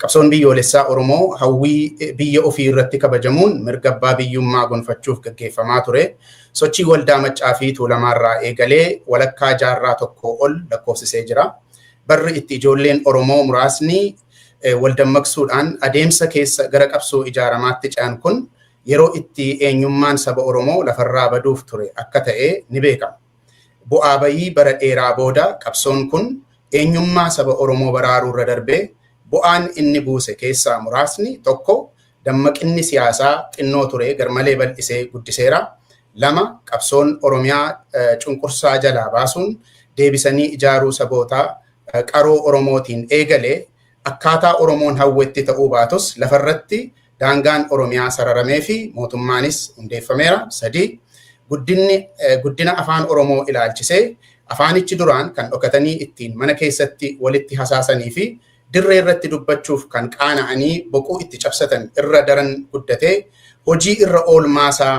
Qabsoon Biyyoolessaa Oromoo hawwii biyya ofii irratti kabajamuun mirga abbaa biyyummaa gonfachuuf gaggeeffamaa ture sochii Waldaa Maccaa fi Tuulamaa irraa eegalee walakkaa jaarraa tokkoo ol lakkoofsisee jira. Barri itti ijoolleen Oromoo muraasni waldammaqsuudhaan adeemsa keessa gara qabsoo ijaaramaatti ce'an kun yeroo itti eenyummaan saba Oromoo lafarraa baduuf ture akka ta'e ni beekama. Bu'aa ba'ii bara dheeraa booda qabsoon kun eenyummaa saba Oromoo baraaruurra darbee bu'aan inni buuse keessaa muraasni 1 dammaqinni siyaasaa xinnoo ture garmalee bal'isee guddiseera 2 qabsoon Oromiyaa cunqursaa jalaa baasuun deebisanii ijaaruu saboota qaroo Oromootiin eegale akkaataa Oromoon hawwetti ta'uu baatus lafarratti Daangaan Oromiyaa sararamee fi mootummaanis hundeeffameera. 3. Guddinni guddina afaan Oromoo ilaalchisee afaanichi duraan kan dhokatanii ittiin mana keessatti walitti hasaasanii fi dirree irratti dubbachuuf kan qaana'anii boquu itti cabsatan irra daran guddatee hojii irra oolmaasaa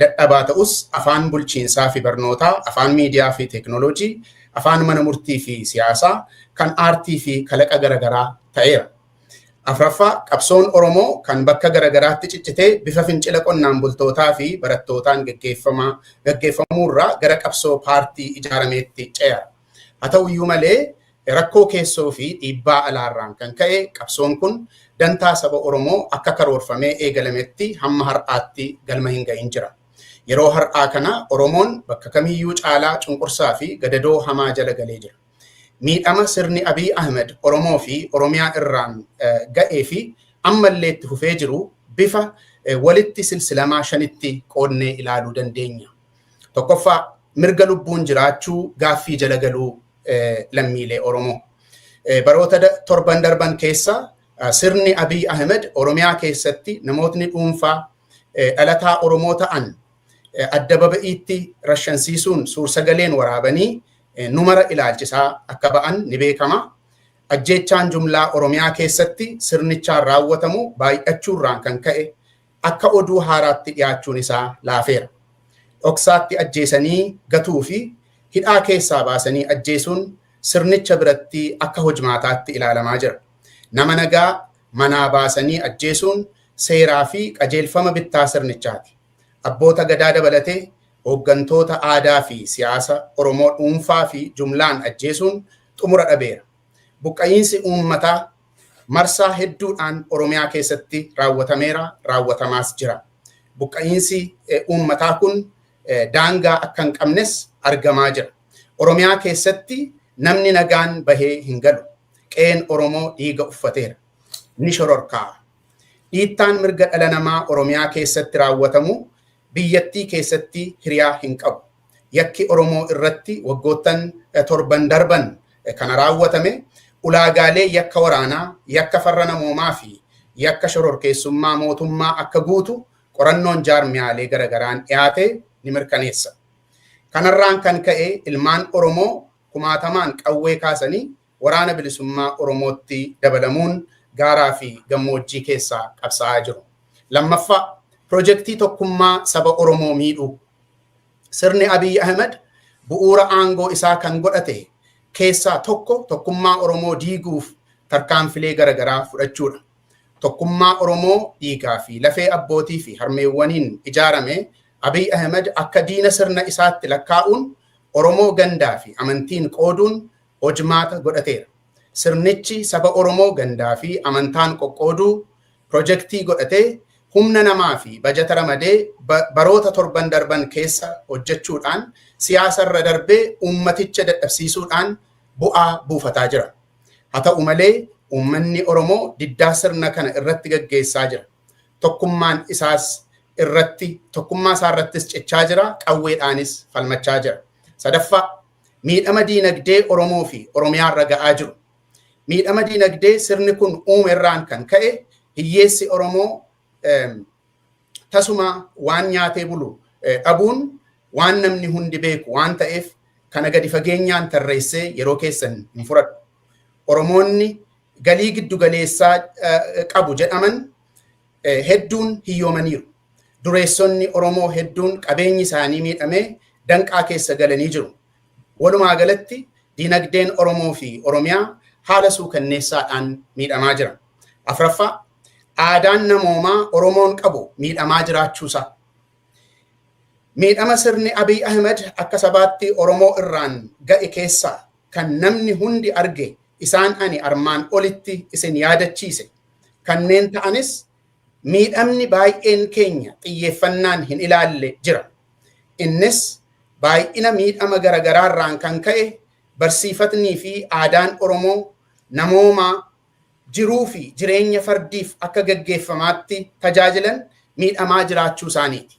dadhabaa ta'us afaan bulchiinsaa fi barnootaa, afaan miidiyaa fi teeknooloojii, afaan mana murtii fi siyaasaa, kan aartii fi kalaqa garagaraa ta'eera. Afraffaa, qabsoon Oromoo kan bakka garagaraatti ciccitee bifa fincila qonnaan bultootaa fi barattootaan geggeeffamaa gaggeeffamuu irraa gara qabsoo paartii ijaarameetti ce'a. Haa ta'u iyyuu malee rakkoo keessoo fi dhiibbaa alaarraan kan ka'e qabsoon kun dantaa saba Oromoo akka karoorfamee eegalametti hamma har'aatti galma hin ga'in jira. Yeroo har'aa kana Oromoon bakka kamiyyuu caalaa cunqursaa fi gadadoo hamaa jala galee jira. Miidhama sirni Abiy Ahimed Oromoo fi Oromiyaa irraan ga'ee fi amma illee itti fufee jiru bifa walitti silsilamaa shanitti qoodnee ilaaluu dandeenya. Tokkoffaa mirga lubbuun jiraachuu gaaffii jala galuu lammiilee Oromoo. Baroota torban darban keessa sirni Abiy Ahimed Oromiyaa keessatti namootni dhuunfaa dhalataa Oromoo ta'an adda baba'iitti rashansiisuun suursagaleen waraabanii nu mara ilaalchisaa akka ba'an ni beekama. Ajjeechaan jumlaa Oromiyaa keessatti sirnichaan raawwatamu baay'achuurraan kan ka'e akka oduu haaraatti dhiyaachuun isaa laafeera. Dhoksaatti ajjeesanii gatuu fi hidhaa keessaa baasanii ajjeesuun sirnicha biratti akka hojmaataatti ilaalamaa jira. Nama nagaa manaa baasanii ajjeesuun seeraa fi qajeelfama bittaa sirnichaati. Abboota Gadaa dabalatee hooggantoota aadaa fi siyaasa Oromoo dhuunfaa fi jumlaan ajjeesuun xumura dhabeera. Buqqa'iinsi uummataa marsaa hedduudhaan Oromiyaa keessatti raawwatameera, raawwatamaas jira. Buqqa'iinsi uummataa kun daangaa akka hin qabnes argamaa jira. Oromiyaa keessatti namni nagaan bahee hin galu. Qe'een Oromoo dhiiga uffateera. Ni shororkaa'a. Dhiittaan mirga dhala namaa Oromiyaa keessatti raawwatamu biyyattii keessatti hiriyaa hin qabu. Yakki Oromoo irratti waggoottan torban darban kana raawwatame ulaagaalee yakka waraanaa, yakka farra namoomaa fi yakka shororkeessummaa mootummaa akka guutu qorannoon jaarmiyaalee garagaraan dhiyaate ni mirkaneessa. Kanarraan kan ka'e ilmaan Oromoo kumaatamaan qawwee kaasanii Waraana Bilisummaa Oromootti dabalamuun gaaraa fi gammoojjii keessa qabsaa'aa jiru. 2ffaa, Pirojektii tokkummaa saba Oromoo miidhuu. Sirni Abiy Ahimad bu'uura aangoo isaa kan godhate keessaa tokko tokkummaa Oromoo diiguuf tarkaanfilee gara garaa fudhachuu dha. Tokkummaa Oromoo dhiigaa fi lafee abbootii fi harmeewwaniin ijaarame Abiy Ahimad akka diina sirna isaatti lakkaa'uun Oromoo gandaa fi amantiin qooduun hojmaata godhateera. Sirnichi saba Oromoo gandaa fi amantaan qoqqooduu pirojektii godhatee humna namaa fi bajata ramadee baroota torban darban keessa hojjechuudhaan siyaasa irra darbee uummaticha dadhabsiisuudhaan bu'aa buufataa jira. Haa ta'u malee uummanni Oromoo diddaa sirna kana irratti gaggeessaa jira. Tokkummaan isaas irratti tokkummaa isaa irrattis cichaa jira, qawweedhaanis falmachaa jira. Sadaffaa. miidhama diinagdee Oromoo fi Oromiyaa irra ga'aa jiru. Miidhama diinagdee sirni kun uume irraan kan ka'e hiyyeessi Oromoo tasuma waan nyaatee bulu dhabuun waan namni hundi beeku waan ta'eef kana gadi fageenyaan tarreessee yeroo keessan hin fudhadhu. Oromoonni galii giddu galeessaa qabu jedhaman hedduun hiyyoomaniiru. Dureessonni Oromoo hedduun qabeenyi isaanii miidhamee danqaa keessa galanii jiru. Walumaa galatti diinagdeen Oromoo fi Oromiyaa haala suukanneessaadhaan miidhamaa jira. Afraffaa aadaan namoomaa Oromoon qabu miidhamaa jiraachuusaa. Miidhama sirni Abiy Ahmed akka sabaatti Oromoo irraan ga'e keessaa kan namni hundi arge isaan ani armaan olitti isin yaadachiise kanneen ta'anis miidhamni baay'een keenya xiyyeeffannaan hin ilaalle jira. Innis baay'ina miidhama garagaraarraan kan ka'e barsiifatnii fi aadaan Oromoo namoomaa jiruu fi jireenya fardiif akka gaggeeffamaatti tajaajilan miidhamaa jiraachuu isaaniiti.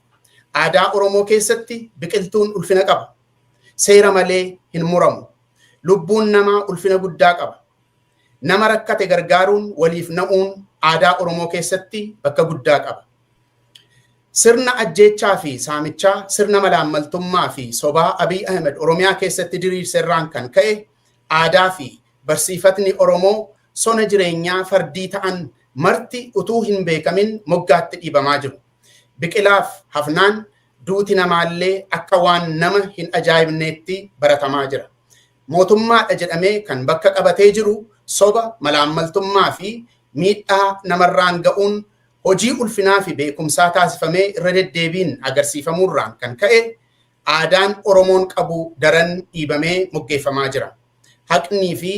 Aadaa Oromoo keessatti biqiltuun ulfina qaba. seera malee hin muramu. Lubbuun namaa ulfina guddaa qaba. Nama rakkate gargaaruun waliif na'uun aadaa Oromoo keessatti bakka guddaa qaba. Sirna ajjeechaa fi saamichaa, sirna malaammaltummaa fi sobaa Abiy Ahmed Oromiyaa keessatti diriirse irraan kan ka'e aadaa fi barsiifatni Oromoo sona jireenyaa fardii ta'an marti utuu hin beekamin moggaatti dhiibamaa jiru. Biqilaaf hafnaan Duuti namaallee akka waan nama hin ajaa'ibneetti baratamaa jira. Mootummaadha jedhamee kan bakka qabatee jiru soba, malaammaltummaa fi miidhaa namarraan ga'uun hojii ulfinaa fi beekumsaa taasifamee irra deddeebiin agarsiifamuurraan kan ka'e aadaan Oromoon qabu daran dhiibamee moggeeffamaa jira. Haqnii fi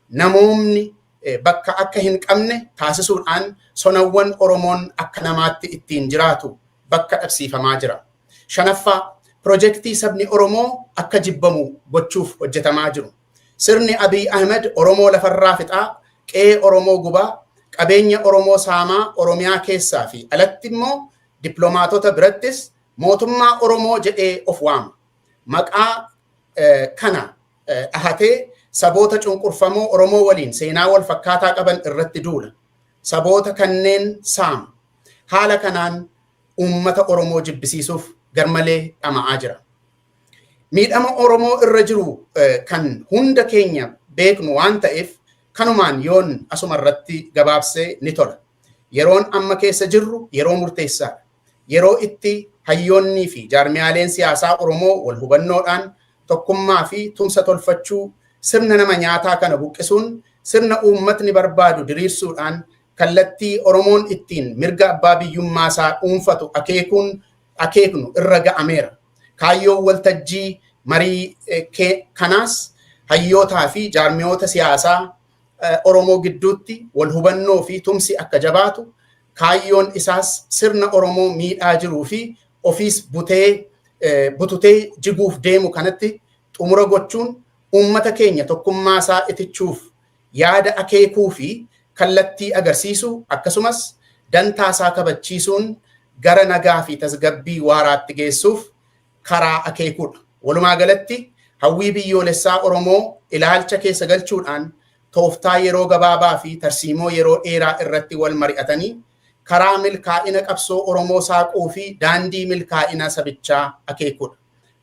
namoomni bakka akka hin qabne taasisuudhaan sonawwan Oromoon akka namaatti ittiin jiraatu bakka dhabsiifamaa jira. Shanaffaa, pirojektii sabni Oromoo akka jibbamu gochuuf hojjetamaa jiru. Sirni Abiy Ahimed Oromoo lafarraa fixaa, qe'ee Oromoo gubaa, qabeenya Oromoo saamaa Oromiyaa keessaa fi alatti immoo dippilomaatota birattis mootummaa Oromoo jedhee of waama. Maqaa kana dhahatee saboota cunqurfamoo Oromoo waliin seenaa wal fakkaataa qaban irratti duula. Saboota kanneen saama. Haala kanaan uummata Oromoo jibbisiisuuf garmalee dhama'aa jira. Miidhama Oromoo irra jiru kan hunda keenya beeknu waan ta'eef kanumaan yoon asuma irratti gabaabsee ni tola. Yeroon amma keessa jirru yeroo murteessaadha. Yeroo itti hayyoonnii fi jaarmiyaaleen siyaasaa Oromoo wal hubannoodhaan tokkummaa fi tumsa tolfachuu sirna nama nyaataa kana buqqisuun sirna uummatni barbaadu diriirsuudhaan kallattii Oromoon ittiin mirga abbaa biyyummaa isaa dhuunfatu akeekuun akeeknu irra ga'ameera. Kaayyoon waltajjii marii kanaas hayyootaa fi jaarmiyoota siyaasaa Oromoo gidduutti wal hubannoo fi tumsi akka jabaatu kaayyoon isaas sirna Oromoo miidhaa jiruu fi ofiis butee bututee jiguuf deemu kanatti xumura gochuun uummata keenya tokkummaa isaa itichuuf yaada akeekuu fi kallattii agarsiisuu akkasumas dantaa isaa kabachiisuun gara nagaa fi tasgabbii waaraatti geessuuf karaa akeekuudha. Walumaa galatti hawwii biyyoolessaa Oromoo ilaalcha keessa galchuudhaan tooftaa yeroo gabaabaa fi tarsiimoo yeroo dheeraa irratti wal mari'atanii karaa milkaa'ina qabsoo Oromoo saaquu fi daandii milkaa'ina sabichaa akeekudha.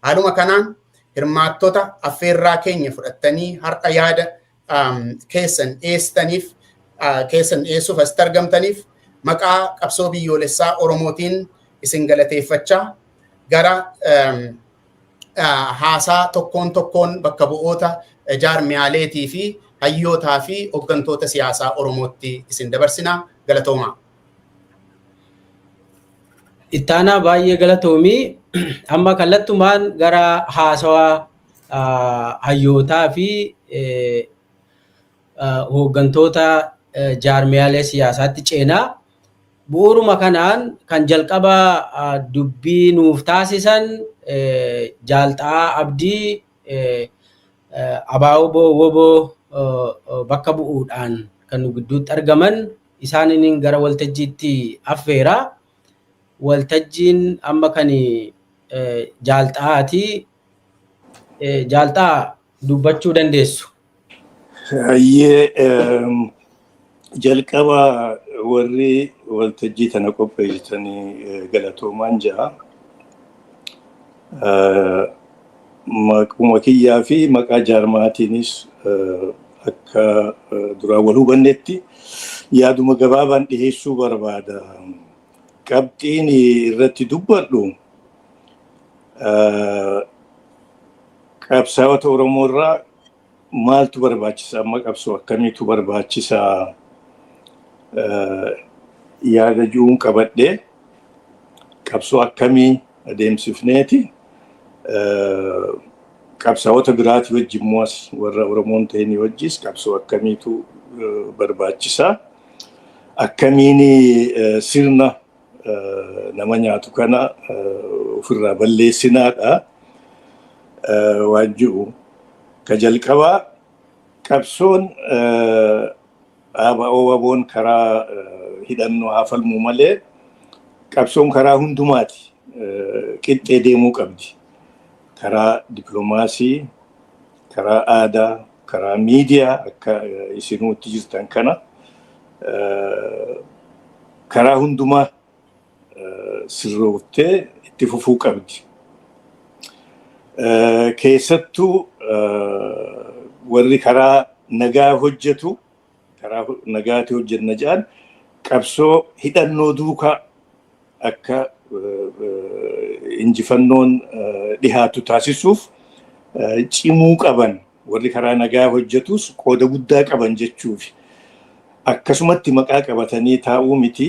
Haaluma kanaan hirmaattota affeerraa keenya fudhattanii har'a yaada keessan dhiyeessitaniif keessan dhiyeessuuf asitti argamtaniif maqaa qabsoo biyyoolessaa Oromootiin isin galateeffachaa gara haasaa tokkoon tokkoon bakka bu'oota jaarmiyaaleetii fi hayyootaa fi hoggantoota siyaasaa Oromootti isin dabarsina galatoomaa. Ittaanaa baay'ee galatoomii amma kallattumaan gara haasawaa hayyootaa fi hooggantoota jaarmiyaalee siyaasaatti ceena. Bu'uuruma kanaan kan jalqaba dubbii nuuf taasisan Jaal Xa'aa Abdii Abaawbo Wobo bakka bu'uudhaan kan nu gidduutti argaman isaaniin gara waltajjiitti affeera. Waltajjiin amma kan Jaal Xa'aati. Jaal Xa'aa dubbachuu dandeessu. Hayyee jalqaba warri waltajjii tana qopheessitanii galatoomaan ja'a. Maquma kiyyaa fi maqaa jaarmaatiinis akka duraan wal hubannetti yaaduma gabaabaan dhiheessuu barbaada. Qabxiin irratti dubbadhu Qabsaa'ota Oromoo irraa maaltu barbaachisa? Amma qabsoo akkamiitu barbaachisa? Yaada ji'uun qabadhee qabsoo akkamii adeemsifneeti qabsaa'ota biraatii wajji immoo as warra Oromoon ta'inii wajjis qabsoo akkamiitu barbaachisa? Akkamiin sirna nama nyaatu kana ofirraa balleessinaadha waan jiru. Ka jalqabaa qabsoon dhaaba OWABOn karaa hidhannoo haa falmu malee qabsoon karaa hundumaati qixxee deemuu qabdi. Karaa dippilomaasii, karaa aadaa, karaa miidiyaa akka isinuu itti jirtan kana karaa hundumaa sirrooftee itti fufuu qabdi. Keessattuu warri karaa nagaa hojjetu karaa nagaatii hojjenna jedhan qabsoo hidhannoo duukaa akka injifannoon dhihaatu taasisuuf cimuu qaban warri karaa nagaa hojjetus qooda guddaa qaban jechuufi. Akkasumatti maqaa qabatanii taa'uu miti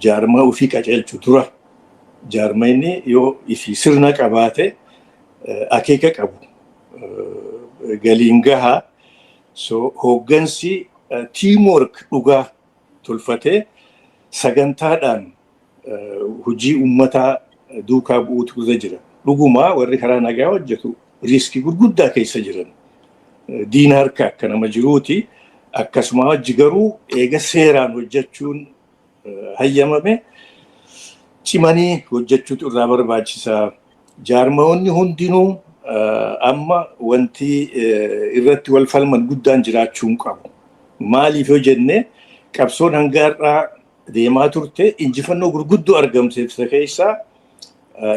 jaarmaa ofii qajeelchu dura jaarmayni yoo ifi sirna qabaate akeeka qabu galiin gaha. So hooggansi teamwork dhugaa tolfatee sagantaadhaan hojii uummataa duukaa bu'uutu irra jira. Dhugumaa warri karaa nagaa hojjetu riiskii gurguddaa keessa jiran. Diina harka akka nama jiruuti. Akkasumaa wajji garuu eega seeraan hojjechuun hayyamame cimanii hojjechuutu irraa barbaachisa. Jaarmayoonni hundinuu amma wanti irratti wal falman guddaan jiraachuu hin qabu. Maaliif yoo jenne qabsoon hanga har'aa deemaa turte injifannoo gurguddoo argamsiifte keessaa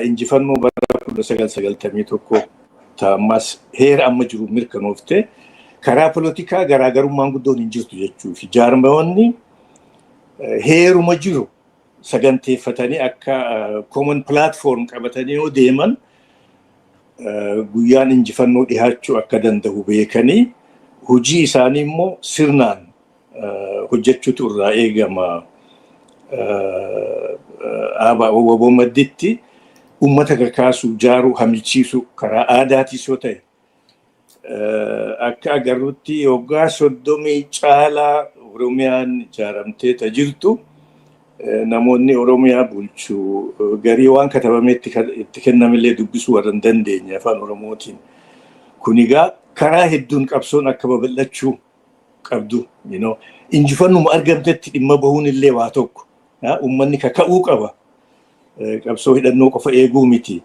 injifannoo bara 1991 taa'ammas heera amma jiru mirkanoofte karaa polotikaa garaagarummaan guddoon hin jirtu jechuufi jaarmayoonni heeruma jiru saganteeffatanii akka common platform qabatanii yoo deeman guyyaan injifannoo dhihaachuu akka danda'u beekanii hojii isaanii immoo sirnaan hojjechuutu irraa eegama. Aabaa waboo madditti uummata kakaasuu, jaaruu, hamichiisuu karaa aadaatiis yoo ta'e Akka agarrutti waggaa soddomii caalaa Oromiyaan ijaaramtee ta jirtu namoonni Oromiyaa bulchu garii waan katabamee itti kennamillee dubbisuu warra hin dandeenye afaan Oromootiin. Kun egaa karaa hedduun qabsoon akka babal'achuu qabdu. Injifannuma argamtetti dhimma bahuun illee waa tokko. Uummanni kaka'uu qaba. qabsoo hidhannoo qofa eeguu miti.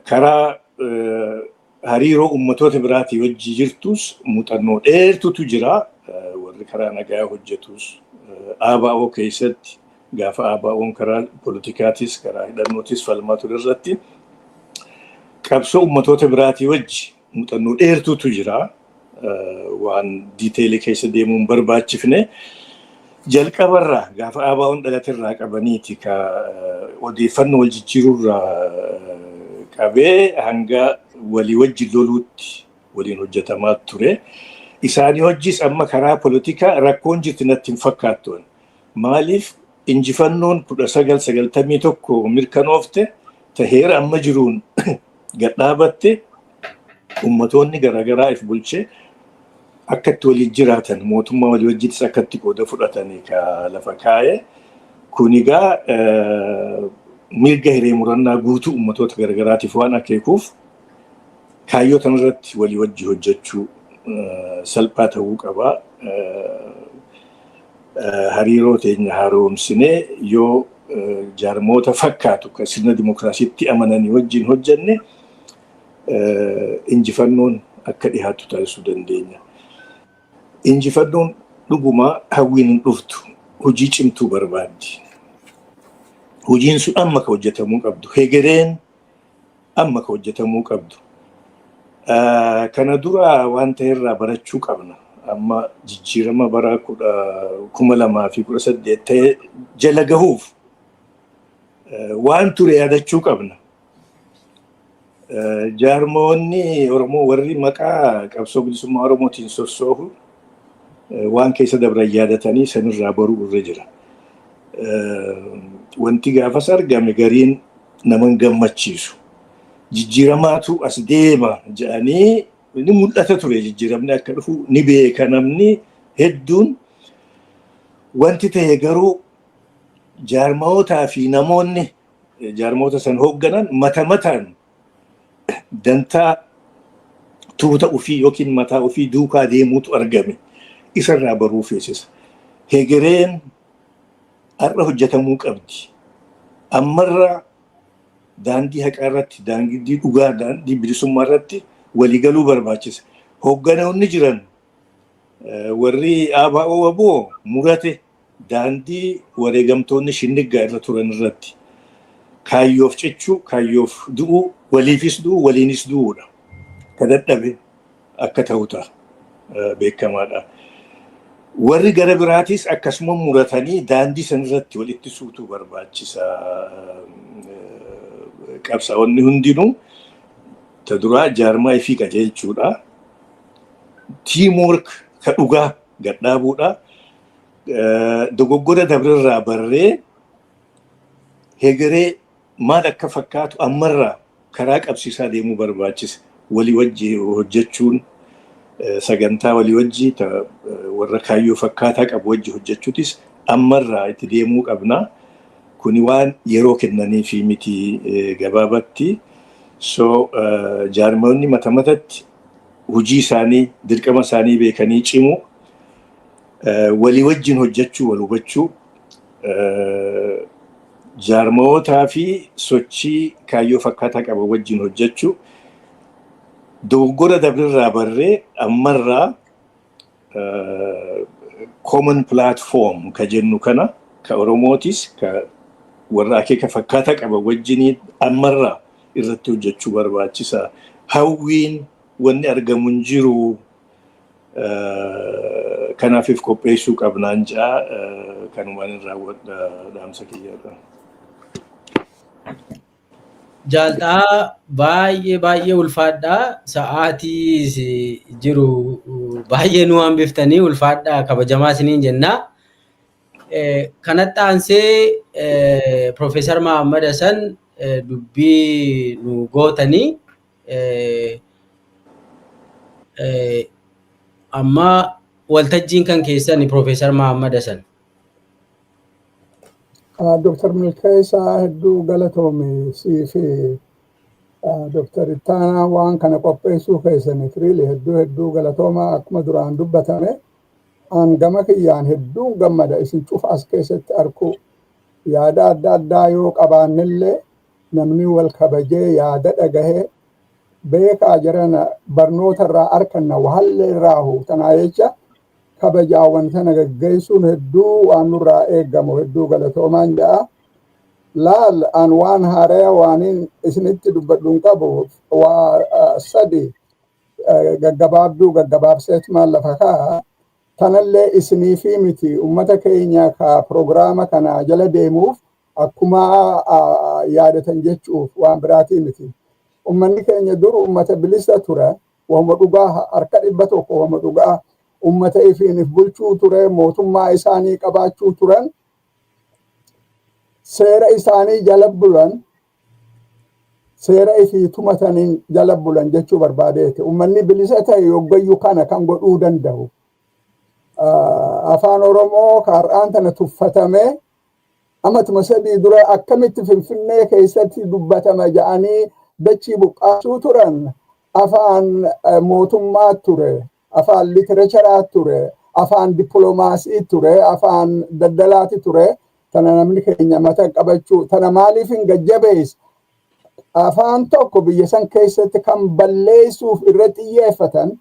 Karaa hariiroo ummatoota biraatii wajji jirtus muuxannoo dheertutu jira. Warri karaa nagaa hojjetus ABO keessatti gaafa ABOn karaa politikaatis karaa hidhannootis falmaa ture irratti qabsoo ummatoota biraatii wajji Muuxannoo dheertuutu jira. Waan diiteelii keessa deemuu hin barbaachifne. Jalqabarraa gaafa ABOn dhalaterraa qabaniiti ka odeeffannoo wal jijjiirurraa qabee hanga walii wajjin loluutti waliin hojjetamaa ture. Isaanii hojjis amma karaa polotikaa rakkoon jirti natti hin fakkaattu. Maaliif injifannoon 1991 mirkanoofte taheera amma jiruun gadhaabatte ummatoonni garaagaraa if bulchee akka itti waliin jiraatan mootummaa walii wajjiitis akka itti qooda fudhatanii ka lafa kaa'e kun egaa mirga hiree murannaa guutuu ummatoota garaagaraatiif waan akeekuuf kaayyoo kanarratti walii wajji hojjechuu salphaa ta'uu qaba. hariiroo teenya haaromsinee yoo jaarmoota fakkaatu kan sirna dimookiraasiitti amananii wajjin hojjenne injifannoon akka dhihaatu taasisuu dandeenya. Injifannoon dhugumaa hawwiin hin dhuftu hojii cimtuu barbaaddi. Hojiin sun amma kan hojjetamuu qabdu hegereen amma ka hojjetamuu qabdu. Kana dura waan ta'e irraa barachuu qabna. Amma jijjiirama bara kuma lamaa fi kudha saddeet ta'e jala gahuuf waan ture yaadachuu qabna. Jaarmoonni Oromoo warri maqaa qabsoo bilisummaa Oromootiin sossoohu waan keessa dabran yaadatanii sanirraa baruu irra jira. Wanti gaafas argame gariin nama hin gammachiisu. Jijjiiramaatu as deema jedhanii inni mul'ata ture jijjiiramni akka dhufu ni beeka namni hedduun wanti ta'e garuu jaarmootaa fi namoonni jaarmoota san hoogganan mata mataan dantaa tuuta ofii yookiin mataa ofii duukaa deemuutu argame isarraa baruu feesisa. Hegereen Har'a hojjetamuu qabdi. Ammarra daandii haqaa irratti, daandii dhugaa, daandii bilisummaa irratti walii galuu barbaachisa. Hoogganoonni jiran warri ABO wbo murate daandii wareegamtoonni shinniggaa irra turan irratti kaayyoof cichuu, kaayyoof du'uu, waliifis du'uu, waliinis du'uudha. Ka dadhabe akka ta'u ta'a. Beekamaadha. Warri gara biraatis akkasuma muratanii daandii san irratti walitti suutuu barbaachisa. Qabsaa'onni hundinuu ta duraa jaarmaa ifii qajeelchuudha. Tiimwork ka dhugaa gad dhaabuudha. Dogoggora dabrerraa barree hegeree maal akka fakkaatu ammarraa karaa qabsiisaa deemuu barbaachisa. Walii wajji hojjechuun sagantaa walii wajji ta warra kaayyoo fakkaataa qabu wajji hojjechuutis ammarraa itti deemuu qabna. Kuni waan yeroo kennaniifi miti gabaabatti. So jaarmayoonni mata matatti hojii isaanii dirqama isaanii beekanii cimuu Walii wajjin hojjechuu, wal hubachuu, jaarmayootaa fi sochii kaayyoo fakkaataa qaban wajjin hojjechuu, dogoggora dabrerraa barree ammarraa common platform ka jennu kana ka Oromootis ka warra akeeka fakkaataa qaban wajjiniin ammarraa irratti hojjechuu barbaachisa. Hawwiin wanni argamu hin jiru. Kanaafif qopheessuu qabnaan ja'a kanumaan hin raawwadha dhaamsa kiyyaadha. Jaaltaa baay'ee baay'ee ulfaadhaa sa'aatii jiru baay'ee nu hambiftanii ulfaadhaa kabajamaa isiniin jennaa. Kanatti aansee Profeesar Mahammad Hasan dubbii nu gootanii Amma waltajjiin kan keessan Piroofeesar Mahammad Hasan. Dooktar Milkeessaa hedduu galatoomi sii fi Dooktar Ittaanaa waan kana qopheessuu keessaniif riili hedduu hedduu galatoomaa akkuma duraan dubbatame an gama kiyyaan hedduun gammada isin cufa as keessatti arguu yaada adda addaa yoo qabaannellee Namni wal kabajee yaada dhagahee beekaa jarana barnoota irraa arkanna wahallee irraahu tanaa jecha kabajaa wan tana gaggeessuun hedduu waan nurraa eegamu hedduu galatoomaan ja'a. Laal an waan haaraya waaniin isinitti dubbadhu hin qabu waa sadi gaggabaabduu gaggabaabseetmaan lafa kaa'a. Tanallee isiniifii miti ummata keenya ka pirogiraama kana jala deemuuf akkuma yaadatan jechuuf waan biraatii miti. Ummanni keenya dur ummata bilisa ture, wahuma dhugaa harka dhibba tokko wahuma dhugaa ummata ifiin if bulchuu ture, mootummaa isaanii qabaachuu turan, seera isaanii jala bulan, seera ifii tumataniin jala bulan jechuu barbaadeeti. Ummanni bilisa ta'e yoggayyuu kana kan godhuu danda'u. Afaan Oromoo har'aan tana tuffatamee amatuma sadii dura akkamitti Finfinnee keessatti dubbatama ja'anii dachii buqqaasuu turan afaan mootummaa ture, afaan literecharaa ture, afaan dippiloomaasii ture, afaan daldalaati ture. Tana namni keenya mata qabachuu tana maaliif hin gajjabeessa? Afaan tokko biyya san keessatti kan balleessuuf irra xiyyeeffatan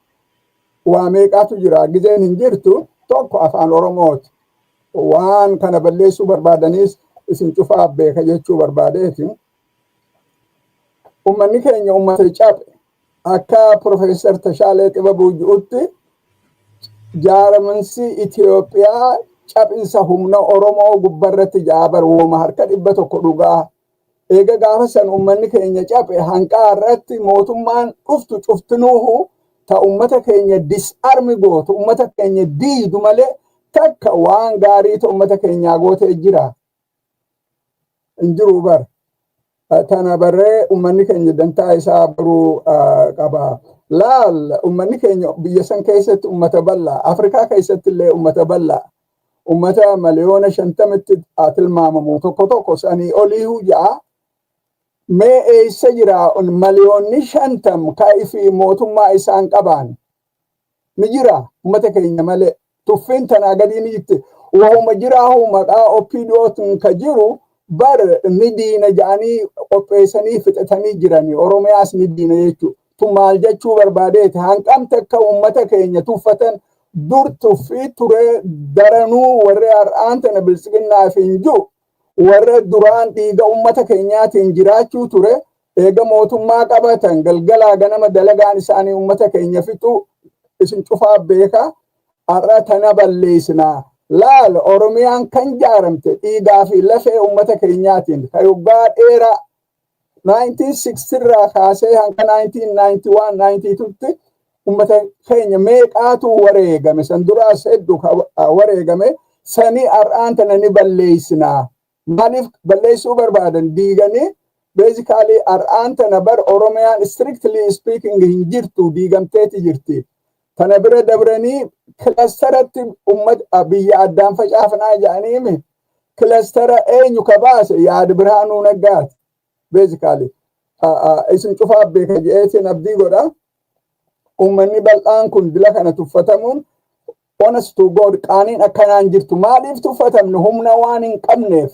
waa meeqaatu jira gizeen hin jirtu tokko afaan Oromooti. waan kana balleessuu barbaadaniis isin cufaa beeka jechuu barbaadeeti. Uummanni keenya uummata cabe akka Profeesar Tashaalee Xibabuu jirutti jaaramansi Itoophiyaa cabinsa humna Oromoo gubbarratti jaabar wooma harka dhibba tokko dhugaa Eega gaafa san ummanni keenya caphe hanqaa har'aatti mootummaan dhuftu cuftinuuhu ta ummata keenya disarm gootu ummata keenya diidu malee takka waan gaarii ta ummata keenyaa gootee jira hin jiru bar tana barree ummanni keenya dantaa isaa baruu qaba. Laal ummanni keenya biyya san keessatti ummata bal'aa Afrikaa keessatti illee ummata bal'aa ummata miliyoona shantamitti haa tilmaamamu tokko tokko sanii oliihu ja'a mee eessa jira miliyoonni shantam ka ifi mootummaa isaan qabaan ni jira ummata keenya malee tuffiin tanaa gadii ni jirti wahuma jiraahu maqaa opdootin ka jiru bar ni diina ja'anii qopheessanii fixatanii jirani oromiyaas ni diina jechuudha tu maal jechuu barbaadeeti hanqam takka ummata keenya tuffatan dur tuffii turee daranuu warri har'aan tana bilsiginnaaf hin jiru warra duraan dhiiga ummata keenyaatiin jiraachuu ture eega mootummaa qabatan galgalaa ganama dalagaan isaanii ummata keenya fixuu isin cufaa beekaa har'a tana balleessinaa laal oromiyaan kan jaaramte dhiigaa fi lafee ummata keenyaatiin kan waggaa dheeraa 1960 irraa kaasee hanga 1991 92tti ummata keenya meeqaatu wareegame san duraas heddu wareegame sanii har'aan tana ni balleessinaa maaliif balleessuu barbaadan diiganii beezikaalii har'aan tana bar oromiyaan strictly speaking hin jirtu diigamteeti jirti Kana bira dabranii kilastaratti ummata biyya addaan facaafnaa jedhaniimi kilastara eenyu ka baase yaad birhaanuu naggaati. Beezikaali isin cufaa beeka jedheetiin abdii godha. Uummanni bal'aan kun dila kana tuffatamuun onas to God qaaniin akkanaan jirtu maaliif tuffatamne humna waan hin qabneef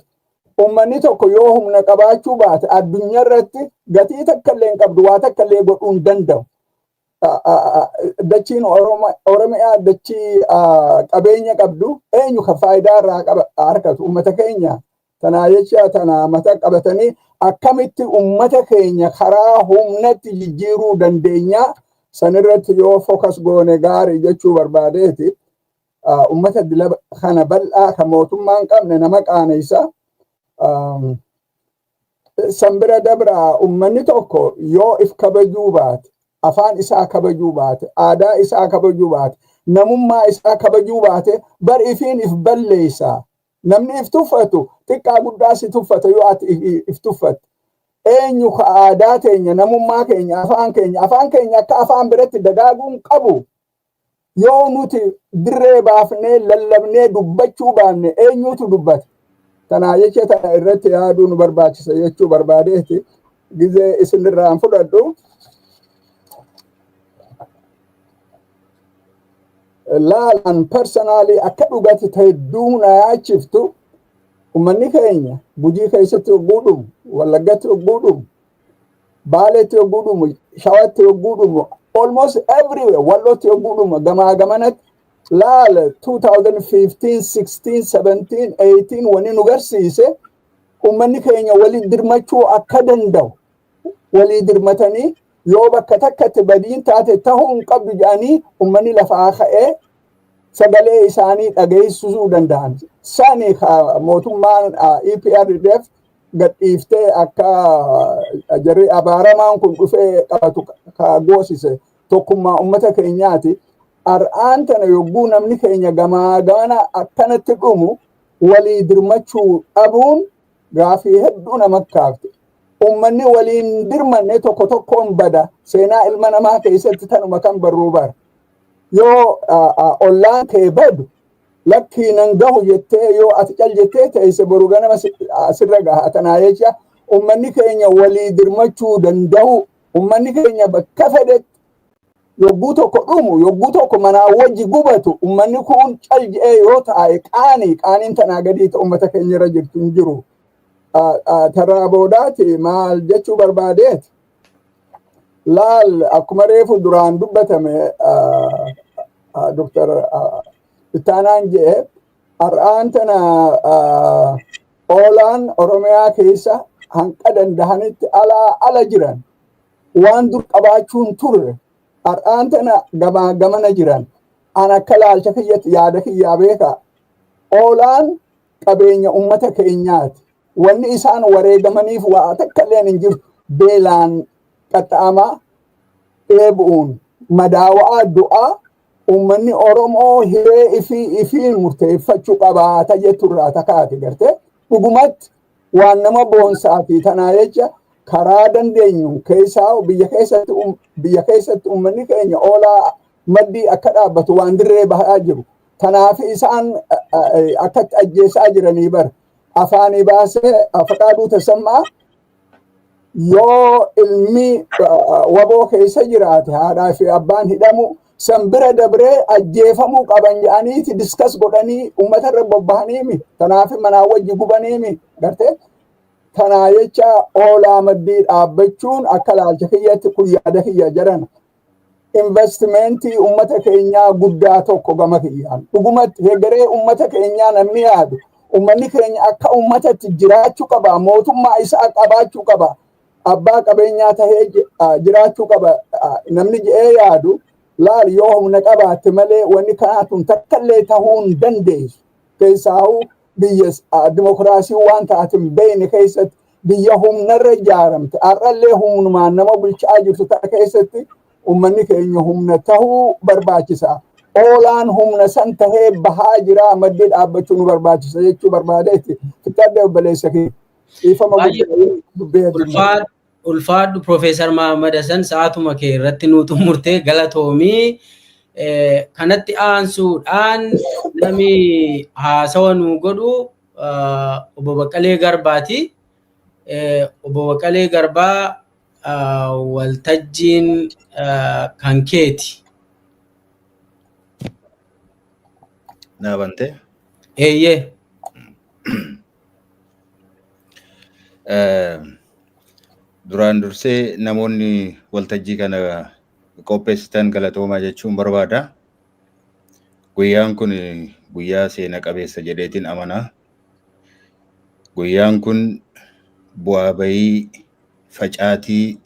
uummanni tokko yoo humna qabaachuu baate addunyaa irratti gatii takka illee hin qabdu waa takka illee godhuu hin danda'u. dachiin Oromiyaa dachii qabeenya qabdu eenyu kan faayidaa irraa argatu uummata keenya tanaa jecha tanaa mata qabatanii akkamitti uummata keenya karaa humnatti jijjiiruu dandeenya sanirratti yoo fokas goone gaarii jechuu barbaadeeti uummata dila kana bal'aa kan mootummaa hin qabne nama qaanessa San bira dabraa ummanni tokko yoo if kabajuu baate, afaan isaa kabajuu baate, aadaa isaa kabajuu baate, namummaa isaa kabajuu baate bar ifiin if balleessa. Namni if tuffatu xiqqaa guddaa si tuffata yoo ati if tuffatte. Eenyu ka aadaa teenya, namummaa keenya, afaan keenya, afaan keenya akka afaan biratti dagaaguun qabu Yoo nuti dirree baafnee lallabnee dubbachuu baanne eenyuutu dubbata? Kanaa jecha tana irratti yaaduu nu barbaachisa jechuu barbaadeeti gizee isinirraa hin fudhadhu. Laalaan parsanaalii akka dhugatti ta'e hedduu na yaachiftu ummanni keenya gujii keessatti hogguu dhumu, wallaggatti hogguu dhumu, Baaleetti yogguu dhumu, Shawatti yogguu dhumu, almost everywhere Wallootti yogguu dhumu gamaa gamanatti laala 2015, 16, 17, 18 wani nu garsiise uummanni keenya walii dirmachuu akka danda'u walii dirmatanii yoo bakka takkatti badiin taate ta'uu hin qabdu jedhanii uummanni lafaa ka'ee sagalee isaanii dhageessisuu danda'an. Sani mootummaan EPRDF gadhiiftee akka jarri abaaramaan kun dhufee qabatu ka goosise tokkummaa ummata keenyaati. Har'aan tana yogguu namni keenya gamaa gamana akkanatti dhumu walii dirmachuu dhabuun gaafii hedduu nama kaafte. Ummanni waliin dirmanne tokko tokkoon bada seenaa ilma namaa keessatti tanuma kan barruu bara. Yoo ollaan kee badu lakkii nan gahu jettee yoo ati cal jettee teesse boru ganama si- sirra gaha tanaa jecha ummanni keenya walii dirmachuu danda'u ummanni keenya bakka fedhetti yogguu tokko dhumu yogguu tokko manaa wajji gubatu ummanni kun cal je'ee yoo taa'e qaanii qaaniin tanaa gadii ta ummata keenya irra jirtu hin jiru. Ah, ah, Tarraa boodaati maal jechuu barbaadeeti Laal akkuma reefu duraan dubbatame Dr. Ittaanaan jedhe har'aan tana oolaan Oromiyaa keessa hanqa dandahanitti alaa ala jiran waan dur qabaachuun turre har'aan tana gamaa gamana jiran an akka laalcha kiyyatti yaada kiyyaa beeka oolaan qabeenya ummata keenyaati Wanni isaan wareegamaniif waa takkalleen hin jirtu. Beelaan qaxxa'amaa, dheebu'uun madaawa'aa du'a ummanni Oromoo hiree ifii ifiin murteeffachu qabaata jettu irraa ta kaate gartee dhugumatti waan nama boonsaa fi tanaa jecha karaa dandeenyu keessaa biyya keessatti um- biyya keessatti ummanni keenya oolaa maddii akka dhaabbatu waan dirree bahaa jiru. Tanaaf isaan eh, eh, akkatti ajjeesaa jiranii bara. afaanii baasee Fiqaaduu Tasammaa yoo ilmi waboo keessa jiraate haadhaa fi abbaan hidhamu san bira dabree ajjeefamuu qaban jedhaniiti diskas godhanii uummata irra bobba'aniimi. Kanaaf manaa wajji gubaniimi gartee. Kanaa jecha oolaa maddii dhaabbachuun akka laalcha kiyyatti kun yaada kiyya jaran. investimentii ummata keenyaa guddaa tokko gama kiyyaan dhugumatti hegeree ummata keenyaa namni yaadu ummanni keenya akka ummatatti jiraachuu qaba mootummaa isaa qabaachuu qaba abbaa qabeenyaa tahee ji- ah, jiraachuu qaba ah, namni jedhee yaadu laal yoo humna qabaatte malee wanni kanaa tun takkallee tahuu hin dandeessu keessaahuu biyya ah, dimokiraasii waan taatin beeyne keessatti biyya humnarra ijaaramte har'allee humnumaan nama bulchaa jirtu tana keessatti ummanni keenya humna tahuu barbaachisa. Oolaan humna san tahee bahaa jira maddii dhaabbachuu nu barbaachisa jechuu barbaadeetti. Kitaabni obboleessa kee dhiifama guddaa dubbee Ulfaadhu ulfaadhu Profeesar Mahammad Hasan sa'aatuma kee irratti nuu xumurtee galatoomii kanatti aansuudhaan namni haasawa nuu godhu Obbo Baqqalee Garbaati. Obbo Baqqalee Garbaa waltajjiin kan keeti. Naa bantee? Eeyyee. Duraan dursee namoonni waltajjii kana qopheessitan galatoomaa jechuun barbaada. Guyyaan kun guyyaa seena qabeessa jedheetiin amana. Guyyaan kun bu'aa bayii facaatii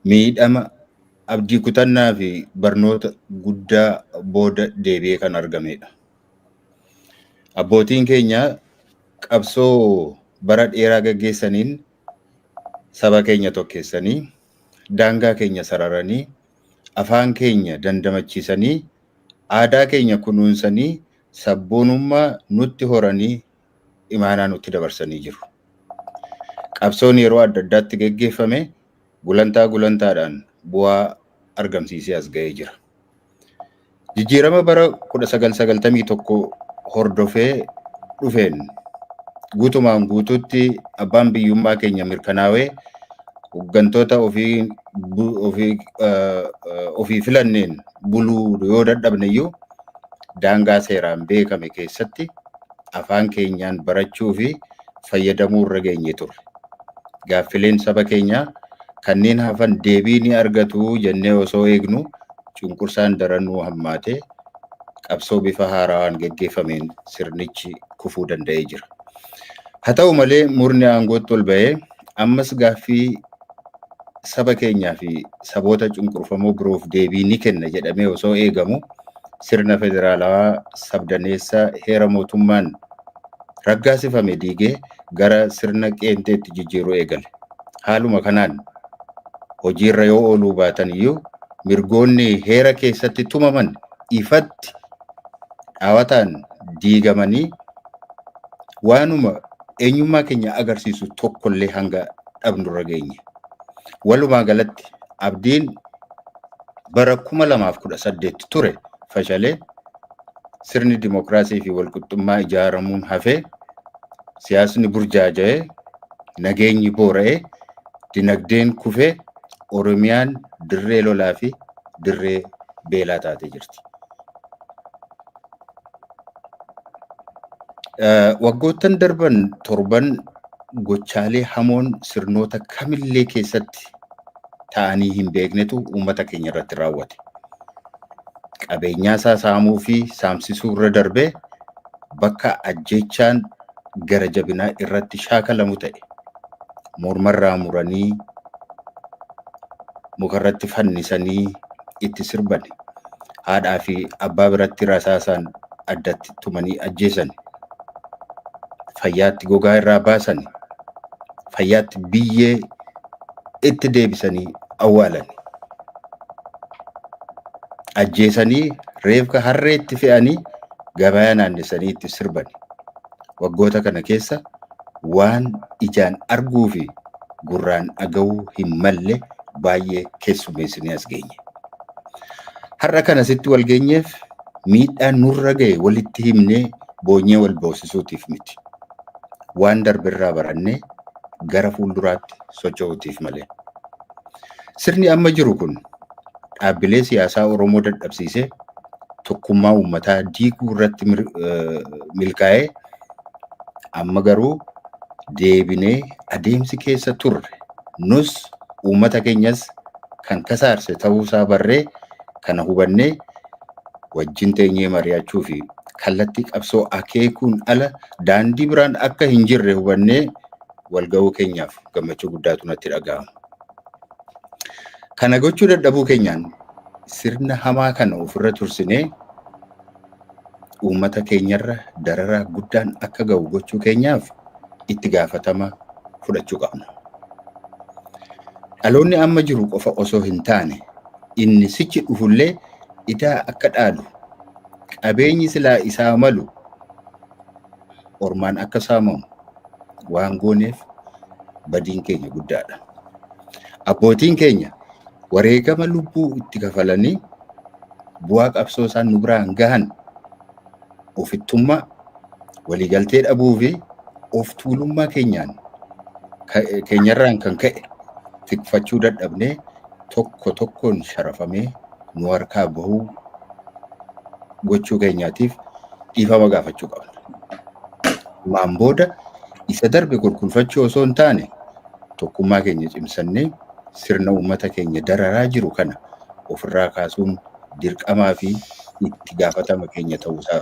miidhama abdii kutannaa fi barnoota guddaa booda deebi'ee kan argamedha. Abbootiin keenya qabsoo bara dheeraa gaggeessaniin saba keenya tokkeessanii daangaa keenya sararanii, afaan keenya dandamachiisanii, aadaa keenya kunuunsanii, sabboonummaa nutti horanii imaanaa nutti dabarsanii jiru. Qabsoon yeroo adda addaatti geggeeffame gulantaa gulantaadhaan bu'aa argamsiisee as ga'ee jira. Jijjiirama bara 1991 hordofee dhufeen guutumaan guutuutti abbaan biyyummaa keenya mirkanaawee hooggantoota ofii bu- ofii eh, eh, ofii filanneen buluu yoo dadhabne iyyuu daangaa seeraan beekame keessatti afaan keenyaan barachuu fi fayyadamuu irra geenye turre. Gaaffileen saba keenyaa kanneen hafan deebii ni argatu jennee osoo eegnu cunqursaan daran nuu hammaate qabsoo bifa haarawaan gaggeeffameen sirnichi kufuu danda'ee jira. Haa ta'u malee murni aangootti ol ba'ee ammas gaaffii saba keenyaa fi saboota cunqurfamoo biroof deebii ni kenna jedhamee osoo eegamu sirna federaalawaa sabdaneessa heera mootummaan raggaasifame diigee gara sirna qeenxeetti jijjiiruu eegale. Haaluma kanaan hojiirra yoo ooluu baatan iyyuu mirgoonni heera keessatti tumaman ifatti dhaawataan diigamanii waanuma eenyummaa keenya agarsiisu tokkollee hanga dhabnurra geenye. Walumaa galatti abdiin bara 2018 ture fashalee sirni dimokiraasii fi walqixxummaa ijaaramuun hafee siyaasni burjaaja'ee nageenyi boora'ee dinagdeen kufee Oromiyaan dirree lolaa fi dirree beelaa taatee jirti. Waggoottan darban torban gochaalee hamoon sirnoota kamillee keessatti ta'anii hin beeknetu uummata keenya irratti raawwate. Qabeenyaa isaa saamuu fi saamsisuu irra darbee bakka ajjeechaan gara jabinaa irratti shaakalamu ta'e morma irraa muranii muka irratti fannisanii itti sirbani. Haadhaa fi abbaa biratti rasaasaan addatti tumanii ajjeesani. Fayyaatti gogaa irraa baasani. Fayyaatti biyyee itti deebisanii awwaalan. Ajjeesanii reefka harreetti fe'anii gabayaa naannessanii itti sirban. Waggoota kana keessa waan ijaan arguu fi gurraan dhaga'uu hin malle baay'ee keessummeessinee as geenye. Har'a kan asitti wal geenyeef miidhaan nurra ga'e walitti himnee boonyee wal boosisuutiif miti. waan darberraa barannee gara fuulduraatti socho'uutiif malee. Sirni amma jiru kun dhaabbilee siyaasaa Oromoo dadhabsiisee tokkummaa uummataa diiguu irratti milkaa'ee amma garuu deebinee adeemsi keessa turre nus uummata keenyas kan kasaarse ta'uusaa barree kana hubannee wajjin teenyee mari'achuu fi kallattii qabsoo akeekuun ala daandii biraan akka hin jirre hubannee walga'uu keenyaaf gammachuu guddaatu natti dhaga'ama. Kana gochuu dadhabuu keenyaan sirna hamaa kana ofirra tursinee uummata keenyarra dararaa guddaan akka ga'u gochuu keenyaaf itti gaafatama fudhachuu qabna. Dhaloonni amma jiru qofa osoo hin taane inni sichi dhufullee idaa akka dhaalu, qabeenyi silaa isaa malu ormaan akka saamamu waan gooneef badiin keenya guddaadha. Abbootiin keenya wareegama lubbuu itti kafalanii bu'aa qabsoo isaan nu biraan gahan ofittummaa, waliigaltee dhabuu fi of tuulummaa keenyaan keenyarraan kan ka'e tikfachuu dadhabnee tokko tokkoon sharafamee nu harkaa bahuu gochuu keenyaatiif dhiifama gaafachuu qabna. Maan booda isa darbe kolkolfachuu osoo hin taane Tokkummaa keenya cimsannee sirna uummata keenya dararaa jiru kana ofirraa kaasuun dirqamaa fi itti gaafatama keenya ta'uusaa